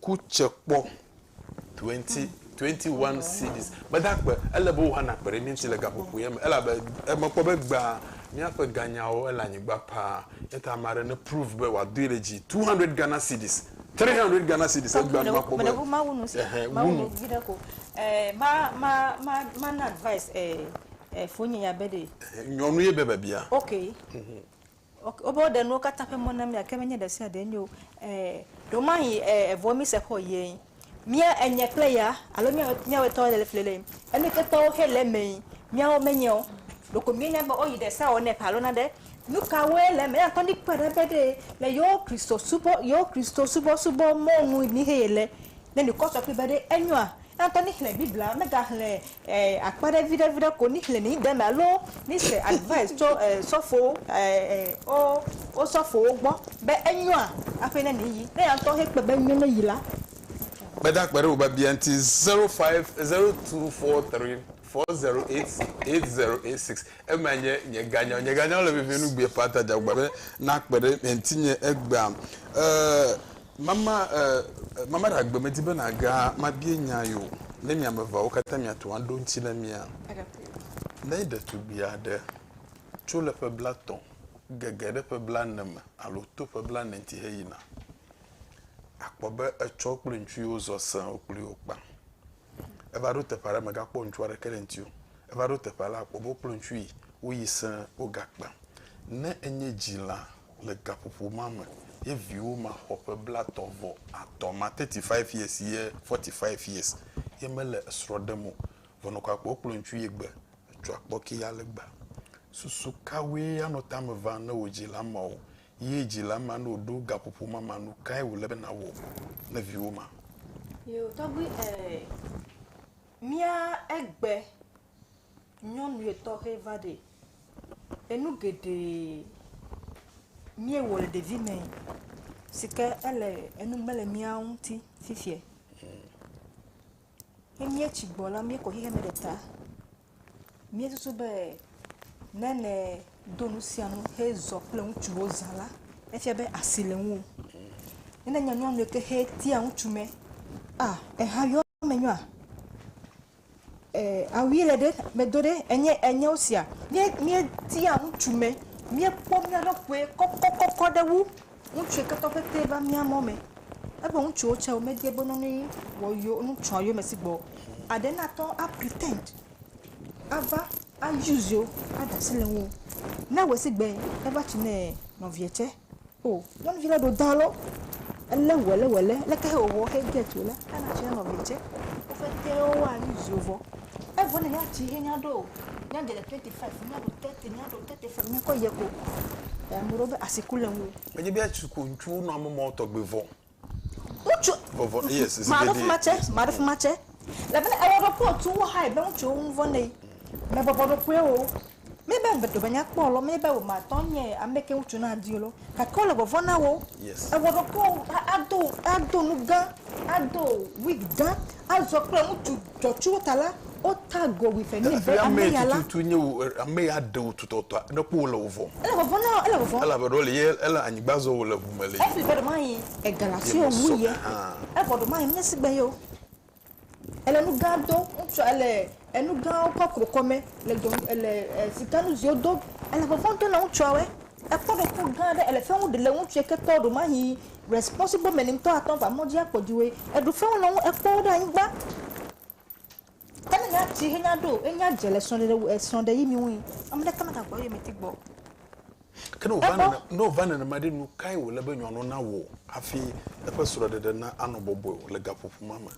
Ku tse kpɔ. Twenty, twenty one cedis. Meda akpe. Ele be wò hã nàkpe ɖe mía ŋuti le gaƒoƒoea me elabe mekpɔ be egbea míaƒe ganyawo ele anyigba paa. Eya ta ame aɖe neprove be wòadoe ɖe dzi. Two hundred Ghana cedis. Three hundred Ghana cedis. Egbea ne makpɔ be. Mawu nu se. Ɛhɛn, wu nu. Viɖe ko. Ɛɛ, ma, ma, ma, mana advice ɛɛ, ɛɛ, fonye ya be ɖee. Ɛhɛn, nyɔnu ye be bebia. Ok. Ok, wobe woɖe nuwo katã ƒe mɔ na mí gake menye ɖe sia ɖee nye o. E, ɖewomahi e, evoa mí se xɔ yee. Mía enye kple ya alo mía mía wetɔwo le le le enu ketɔwo xe le emee. Míawo menye o. Ɖeko míenya be woyi ɖe sawɔ nɛ ƒe alo naɖe. Nu kawoe le eme? Eya ŋutɔ míkpɔe ɖa be ɖee le yewo Kristo subɔ yewo Kristo subɔ subɔ mɔnu mi xe yele. Ne mikɔ sɔ kpli be ɖe enyoa? Eya ŋutɔ mixlẽ Biblia megaxlẽ eh akpa ɖe viɖe viɖe ko ni xlẽ ni deme alo ni se advice tso eh sɔfowo eh eh wo wo sɔfowo gbɔ be enyoa aƒe ne ni yi ne ya ŋutɔ he kpe be enyo ne yi la. Gbedagbe ɖe wò biabia ŋuti zero five zero two four three four zero eight eight zero eight six ema nye nye ganyawo nye ganyawo le vevie nu gbee paa ta dze agbagba be nakpe ɖe ŋtinye egbea eh. Mama, eh, Mama Ɖagbe, medi be nàga mabie nya ye o. Ne mi ame eveawo katã miate ŋu aɖo eŋuti na mía? Ne ɖetugbui aɖe tso le ƒe blatɔ̃ gege ɖe ƒe blaene me alo to ƒe blaene ŋuti heyina, akpɔ be etsɔ wo kple ŋutsu yiwo zɔ sẽe wo kplii wokpa. Eva ɖo teƒe aɖe megakpɔ ŋutsu aɖeke ɖe ŋuti o. Eva ɖo teƒe aɖe akpɔ be wo kple ŋutsu yi woyi sẽe wogakpa. Ne enye dzila Le gaƒoƒo ma me ye viwo ma xɔ ƒe blatɔ̃ vɔ atɔ̃ ma, 35 years ye 45 years, ye mele esrɔ̃ ɖem o. Vɔnɔkɔakɔe wokplɔ ŋutsu ye gbe etsɔ akpɔ ke ya le gbea. Susu kawoe anɔ tame vam ne wò dzila mawo ye dzila ma ne wòɖo gaƒoƒo ma ma? Nu kae wòle be nàwɔ ne viwo ma? Yo tɔgbui, ɛɛ, mía egbe Nyɔnue tɔxe va ɖe. Enu geɖe míewɔ le ɖevi me si ke ele enu mele mía ŋuti fifiɛ. Ne míetsi gbɔ la, míekɔ xexe me ɖe ta. Míesusu be ne nɛ do nu sia nu hezɔ kple ŋutsuwo zã la, efia be asi le ŋuwò. Ne nenye nyɔnue ke hetia ŋutsu me, ah, eha yɔa emenyɔa? Awi le ɖe medo ɖe enye enye wo sia mie mie tia ŋutsu me mie kpɔ mia ɖo ƒue kɔkɔ kɔkɔ ɖe wu ŋutsu ke tɔ ƒete va mia mɔ me ebe ŋutsu wo tsɛ wo me de be nɔnɔ ye wɔ yewo ŋutsua yewo me si gbɔ aɖe na tɔ a pretend ava a use yewo a ɖe asi le ŋuwo ne ewɔe si gbɛ eva tsi nɛ nɔvia tsɛ. O nyɔnuvi ɖe ɖo dalo ele wɛlewɛle leke he wowɔ xe get o la ana tsi na nɔvia tse wofete wo wa nu zio vɔ evo ne nya tsi he nya ɖo o nya de le twenty five nya ɖo thirty nya ɖo thirty five nya kɔ yɛ ko ame ɖewo be asi ku le ŋu. Menye be ya tsi ko ŋutsuwo nɔ ame mɔ tɔgbe vɔ. Ŋutsu, Vɔvɔ, yes, it's maɖo fuma tsɛ, yes. maɖo fuma tsɛ. Elabena ewɔ ɖokuiwò tu wo hae be ŋutsuwo ŋu vɔ̃ nɛ. Mèbɔbɔ ɖokuiwò o. Míebe ŋugbe ɖome nya kpɔ lɔ, míebe wò matɔ nye amɛ ke ŋutsu na di lɔ, gake wole vɔvɔ̃ na wò. Yes. Ewɔ ɖokuiwò a, ado, ado nu gã, ado wig gã, azɔ kple ŋutsu Tsɔtsrɔ̃ ta la, wota go wui fɛ̃ nɛ be ame ya la. Tututu nye wò ame ya ɖe wò tutɔtɔa, ne kpɔ wò le wò vɔ̃m. Ele vɔvɔ̃ na wò, ele vɔvɔ̃m. Elabe ɖɔ le ye, ele anyigba zɔm wòle ʋu me le ye. Efli vɔ ɖe maɣi ega la tso ye ŋu ye, evɔ ɖe maɣi nye sigbe ye o. Ele nu gã do, ŋutsua ele enu gãwo kɔ kro kɔ me le dɔ, ele sika nu ziwo do. Ele vɔvɔ̃ do na ŋutsua wɛ. Ekpɔ ɖe ku gã ɖe, ele fewu ɖe le ŋutsu ye ke tɔ ɖe maɣi Responsible mɛ ni ŋtɔ atɔ ŋva mɔdji akpɔ djiwoe eɖu fɛnwo nɔ ŋu ekpɔ wo ɖe anyigba. Ke ne nya tsi he nya ɖo enyi adze le srɔɖeɖe wu esrɔ ɖe yi mi ŋui amɖeke mega gbɔ eyome ti gbɔ. Ke ne ova nene ne ova nenema ɖe nukae wole be nyɔnɔ na wò afi eƒe srɔɖeɖe na anɔ bɔbɔe o le gaƒoƒo ma me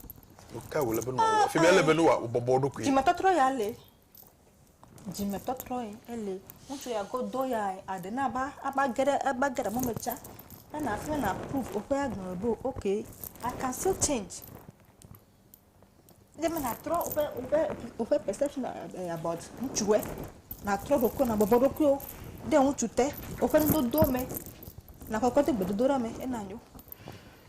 nukae wole be nɔ wɔ efimɛ ele be nɔ wɔ bɔbɔ eɖokui. Djime tɔtrɔ ya le dzimetɔtrɔe ele ŋutsu ya godo ya aɖe na va ava ge ɖe ava ge ɖe mɔ me tsa ne na ne na apruv woƒe agbalẽ be ok I can still change ne be natrɔ woƒe woƒe woƒe perception eh, about ŋutsue natrɔ ɖokui nabɔbɔ ɖokuiwo ɖe ŋutsu te woƒe nudodowo me nakɔkɔ de gbedodoɖa me ena nyo.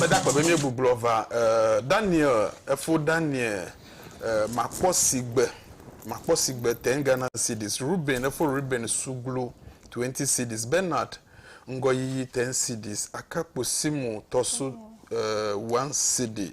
Meda akpe be míegbuglɔ va Daniel efo Daniel makpɔ sigbe makpɔ sigbe ten Ghana cedis Reuben efo Reuben suglu twenty cedis Bernard ŋgɔyiyi ten cedis Akakpo Simo tɔsu one cedi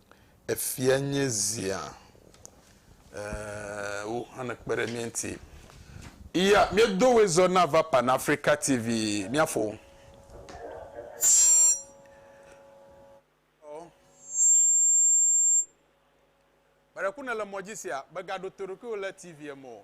Efia nye zia. Eeee wo hã ne kpe ɖe mía ŋuti. Iya mía do woe zɔ na va Pan Africa TV mía fo. Ƒeɖeku nèle mɔ dzi sia, mègaɖo to ɖokuiwò le TV-a me o.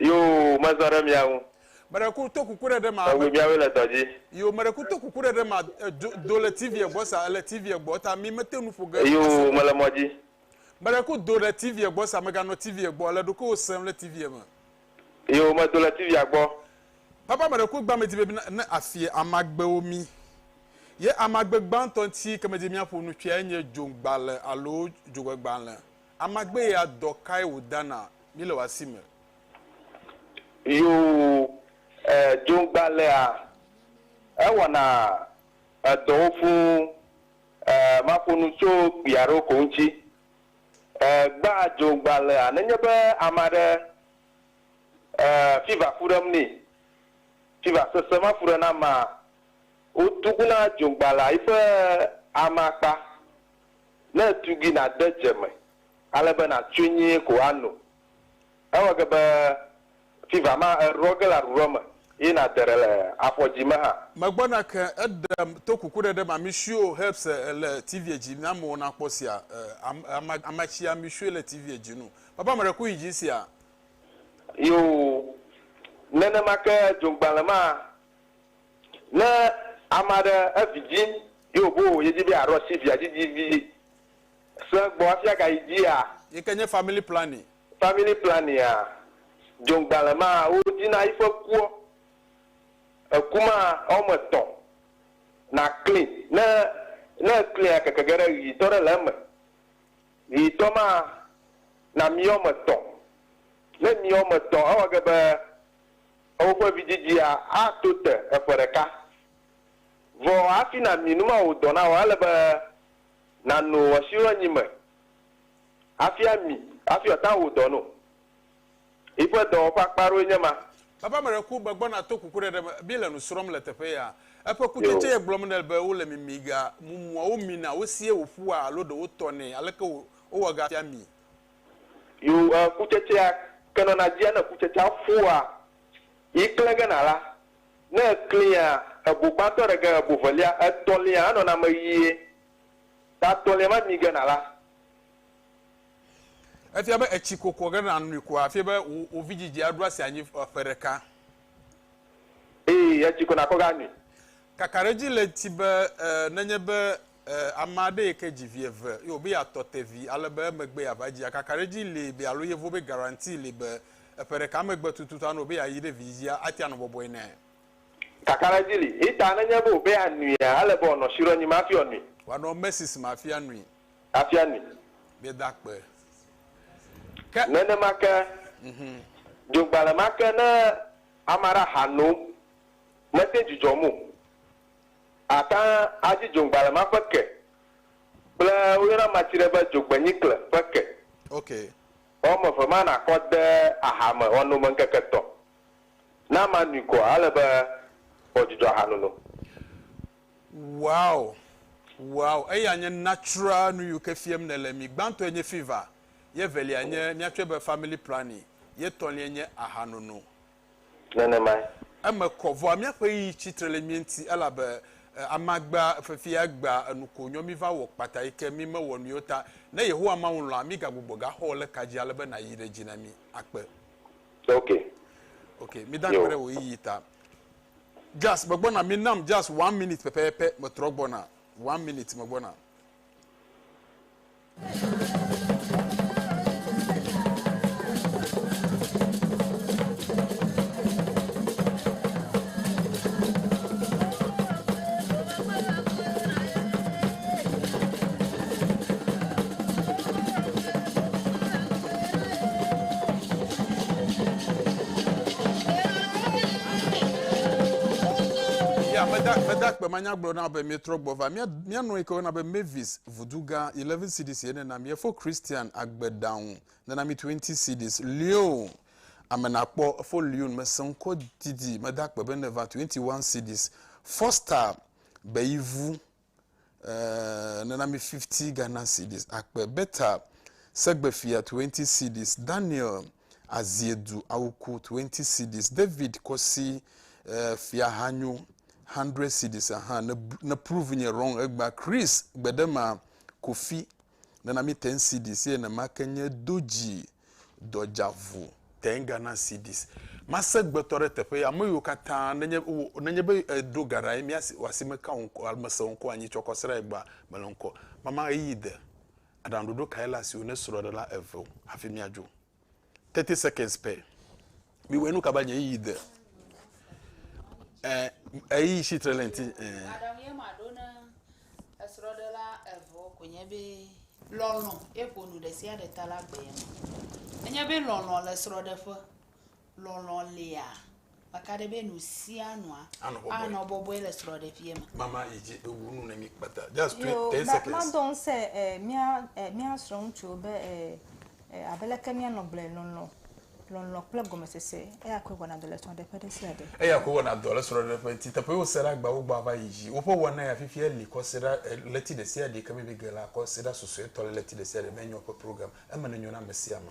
Yoo, mezɔ ɖe mia ŋu. Meɖe ku to kuku ɖe ɖe ma. Megbe miawoe le dɔ dzi. Yoo, meɖe ku to kuku ɖe ɖe ma. Edzo do le TV-a gbɔ sa, ele TV-a gbɔ ta mi mete nu ƒo ge ase ɖe. Yoo, mele mɔ dzi. Meɖe ku do ɖe TV-a gbɔ sa, meganɔ TV-a gbɔ, le ɖokuiwò sem le TV-a me. Yoo, medo le TV-a gbɔ. Papa meɖe ku gbã medi be mi na ne afie amagbewo mi. Ye amagbe gbãtɔ ŋti ke medi be miaƒo nu tsoea enye dzoŋgbale alo dzogbegbalẽ. Amagbe ya dɔ kae wòda na mí le wò asi me? Yoo, ɛɛ, dzogbalẽa, ewɔna edɔwo fũu. Ɛɛ, maƒo nu tso kpui aɖewo ko ŋuti. Ɛɛ, gbãa dzogbalẽa, nenye be ame aɖe, ɛɛ, fiva ƒu ɖem nɛ, fiva sesẽ ma ƒu ɖe na amea, wotuguna dzogbalẽa yiƒe amakpa. Ne ètui gui nàde dze me ale be nàtsoe nyuie ko ano. Ewɔ ge be fiva ma eɖuɖɔ ge le aɖuɖɔ me eye nàde ɖe le afɔdzi me hã. Megbɔna ke eɖe to kukuɖeɖe ma mishuio heps le tivie dzi mi amewo na kpɔ sia ama amatsia mishuie le tivie dzi nu papa meɖe ku yi dzi sia. Yoo, nenema ke dzoŋgbalẽ ma. Ne ame aɖe evi dzim ye wòbo yedzi be yeaɖo asi via dzi dzi vi sẽ gbɔ hafi agayi dzia? Yi ke nye family planning. Family planning a, dzoŋgbalẽ ma wodzi na yiƒe kuɔ, eku ma ewɔme etɔ̃ nàkli ne ne èklia keke ge ɖe ʋitɔ ɖe le eme. Ʋitɔ ma namiɔ me etɔ̃. Ne miɔ me etɔ̃ ewɔ ge be. Ewò ƒe vidzidzia ato te eƒe ɖeka. Vɔ hafi nàmi numawɔdɔ na wò, ele be nàno esi le anyi me hafi ami hafi wòata wò dɔ no. Yi ƒe dɔwɔƒe ƒe akpa aɖewoe nye ma. Eƒe ame ɖe ku, megbɔna to kukuɖeɖe me. Mí le nu srɔ̃m le teƒe ya. Eƒe kutsetse ye gblɔm nele be wole mimi ga mumuawo mina wosie wòƒua alo ɖe wotɔnɛ aleke wowɔ ga fia mi. Yo e kutsetsea ke nɔna dzia ne kutsetsea ƒua yi klẽ ge na la, ne eklẽa ebo gbãtɔ ɖe ge ebo velia, etɔ̃lia hã nɔna eme ɣie, ta etɔ̃lia ma mi ge na la. Efia be etsi kokɔ ge na nui ko hafi be wò wò vidzidzi aɖo asi anyi ƒe ɖeka. Eye etsi kɔna kɔ ge anui. Kakaɖedzi le eti be e nenye be E, ame aɖe yi ke dzi vi eve ye wòbe yeatɔ te vi ale be emegbe yeava dzi akakaɖedzi li be alo yevo be garanti li be eƒe ɖeka megbe tututu anɔ wòbe yeayi ɖe vidzia ate anɔ bɔbɔe nɛ. Kakaɖedzi li heta nenye be wòbe yeanuia, ele be wòanɔ Shiro nyim hafi wòanui. Wòanɔ Macy's me hafi anui. Hafi anui. Míeda akpe. Ke. Nenema ke, dzogbalẽ ma ke ne ame aɖe aha nom, mete ŋu dzudzɔm o. Àtã adzi dzogbalẽ ma ƒe ke kple woyɔna amatsi ɖe be dzogbenyikle ƒe ke. Ƒe wɔme eve ma nàkɔ de aha me wɔnome ŋkeke etɔ̃. Ne amea nui koa, ele be wòawɔ dzudzɔ ahanono. Wow wow eya nye natural nuyiwo ke fiem nèle mi gbãtɔe nye fever ye evelia nye míatsɔe be family planning ye etɔ̃lie nye ahanono. nenemae. Eme kɔ, vɔa míaƒe ɣeyiɣi tsi tre le mía ŋuti, elabe amagbea, fefea, egbea, enuko, nyɔ míva wɔ kpata yi ke mímewɔ nui o ta. Ne Yehowa Mawu lɔ̃a, mígagbugbɔ gaxɔ o le ka dzi ale be nàyi ɖe dzi na mí akpe. Ok. Ok, mida akpe ɖe wò ɣeyiɣi ta. Just megbɔna, minam just one minute pɛpɛpɛ, metrɔ gbɔna. One minute, megbɔna. meda meda kpemanyagblɔ na be mietrɔ gbɔ va mía mía nɔ yi ke wɔna be mavis Vodugã 11 cedis ye nena mi efo Christian agbe ɖaŋu nena mi 20 cedis Lyon ame nakpɔ efo Lyon mese ŋkɔ didi mede akpe be ne va 21 cedis Foster be ivu eh, nena mi 50 Ghana cedis akpe Beta segbefia 20 cedis Daniel azie du awuku twenty cedis. David kɔ si eh, fiaha nyo hundred cedis aha ne, ne prove nye wrong egba. Chris gbedema kofi nana mi ten cedis ye ne make nye doji dɔjavu ten Ghana cedis. Mase gbetɔ ɖe teƒe ya ame yiwo katã nenye, nenye be eh, ɖo garae mi asi, asi me ka ŋkɔ, mese ŋkɔ anyi tsɔkɔ sra egba mele ŋkɔ. Mama ɣeyiɣi de. Aɖaŋuɖoɖo kae le asiwò ne srɔ̃ɖela eve wo hafi miadzo? Thirty seconds pɛ. Miwɔe nu ka be nye yiyi de? Ɛ eyi si tre le ŋuti. Ɛ. Aɖaŋu ye maɖo ne esrɔ̃ɖela evewo ko nye be lɔlɔ̃ ye ƒo nu ɖe sia ɖe ta la gbe ye ma. Enye be lɔlɔ̃ le srɔ̃ɖeƒe. Lɔlɔ̃ lia, meka ɖe be nu sia nua Anɔ bɔbɔe. anɔ bɔbɔe le srɔ̃ɖeƒea me. Mama yi dzi ewu nu ne mi kpata. Just twe- Yo, 10 ma- seconds. madɔ ŋusẽ e, mía e, mía srɔ̃ŋutsuwo be e, e, abe leke míanɔ gblɔe lɔlɔ̃, lɔlɔ̃ kple gɔmesese, eya koe wɔna dɔ le srɔ̃ɖeƒe ɖe sia ɖe. Eya koe wɔna dɔ le srɔ̃ɖeƒe ŋuti. Teƒe yewo se ɖe agbawo gbɔ ava yi dzi. Woƒe wɔna ya fifia li kɔ se ɖe e, ɣleti ɖe sia ɖe yi ke míebi ge la kɔ se ɖe susuetɔ le ɣleti ɖe sia ɖe me. Enye woƒe program. Eme nenyo na ame sia ame.